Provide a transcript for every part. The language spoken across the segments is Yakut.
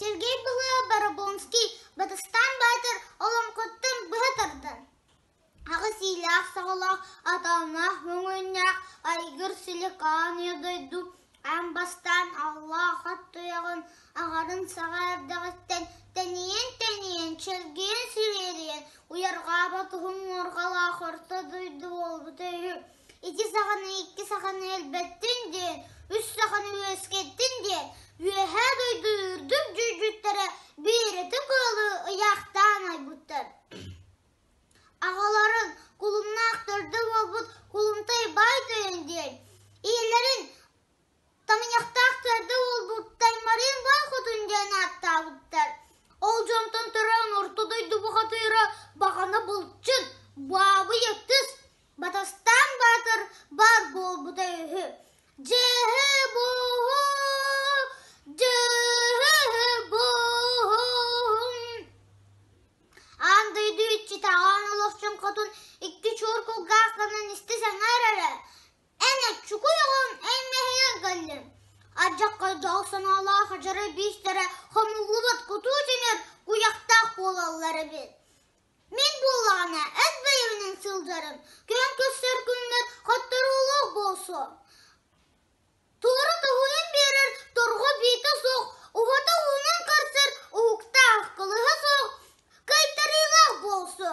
Сергей Пылы Барабонский Батыстаан Баатыр олоҥхуттан быһа тардан, аҕыс иилээх-саҕалаах атааннаах өҥөннөөх айгыр силикааныйа дойду эн бастаан аллаах ат туйаҕын аҕарын саҕа эрдэҕиттэн тэнийэн-тэнийэн чэлгийэн сириэрийэн уйарҕаабат уһун уорҕалаах орто дойду буолбута үһү. Ити саханы икки саханы өлбөттүн диэн, үс саханы үөскэттин диэн үөһээ дойду үрдүк дьүүлдьүттэрэ биэрэти кыалы ыйаахтаан айбыттар. Аҕаларын кулумнаахтарда буолбут кулумтай бай тойон диэн, ийэлэрин Таныйахтаах төрдө уолбуттан Марыын Баал Хотун диэн ааттаабыттар. Ол дьонтон төрөөн орто дойду бухатыыра Баҕана Былчын, Баабый Ытыс, Батастаан Баатыр баар буолбута үһү. Дьэһэ бууһу, дьэһэ бууһун. Аан дойду иччитээҕэ Олохчун Хотун икки чуор кулгаах гынан истэ сэҥээр эрэ Эн оччукуй оҕом эн мэһэйэ кэллим. Адьахха дьол санаалаах адьары биистэрэ хомуллубат кутуу тимир куйахтаах буолаллар эбит. Мин буоллаҕына эс бэйэминэн сылдьарым, күөн көстөр күннэр хотторуулаах буолсу. Туора тоһуйан биэрэр торҕо биитэ суох, убата уунан көрсөр уһуктаах кылыһа суох, кыйтарыылаах буолсу.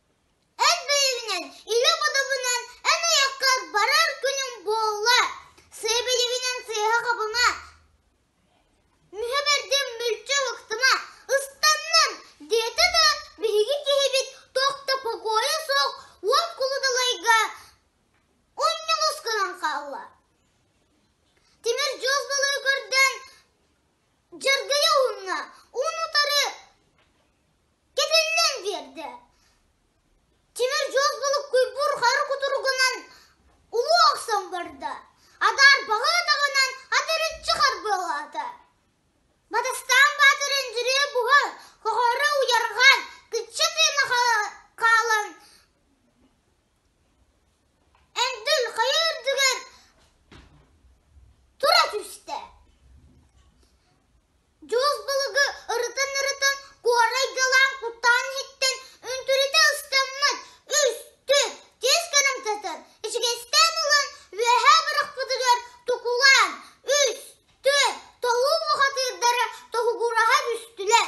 Эн бэйэбинэн, ийэ бодобунан эн айаккар барар күнүм буолла. Сиэбилибинэн сыыһа хабыма. Мүһэ бэрдим мүлчү ыһыктыма. Ыстаннын, диэтэ да биһиги киһибит туох да покойа суох уон кулудалайга унньулус гынан хаалла. Тимир дьуос балыгы көрсөн дьаргыйа уунна. Уун утары кэтиллэн биэрдэ. Тимир дьолгулуккуйбуур хар кутуругунан улуу охсон барда. Адаар баҕыатаҕынан атырыччы харбыалаата. Батыстаан баатыр өндүрүө буһа хоһоро уйарҕаан кычча тыына хаалан эндил хайа үрдүгэр тура түстэ. Дьуос балыгы ырытан-ырытан куорай Дьалаан куттаан иһиттэн үнтүрүтэ ыстаммыт, үстүк, тиэс гынан сытар, ичигэстээн ылан үөһээ бырахпытыгар тукулаан, үс, түөрт тоһуу мухатыырдара тоһугураһа түстүлэр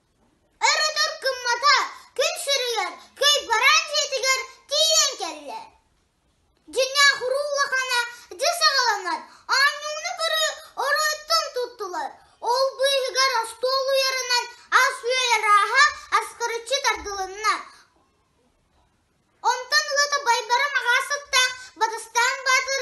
Өрүтүр кыммата күн сүрүйэр, кыйбараан дьиэтигэр тиийэн кэллэ. Дьиҥҥээх уруу улахана дьэ саҕаланар, оонньууну көрүү ороттон туттулар. Ол быыһыгар остуол уйарынан ас-үөл арааһа аскарыччы тардылынна. Онтон ылата Байбара маҕаас аттаах Батыстаан Баатыр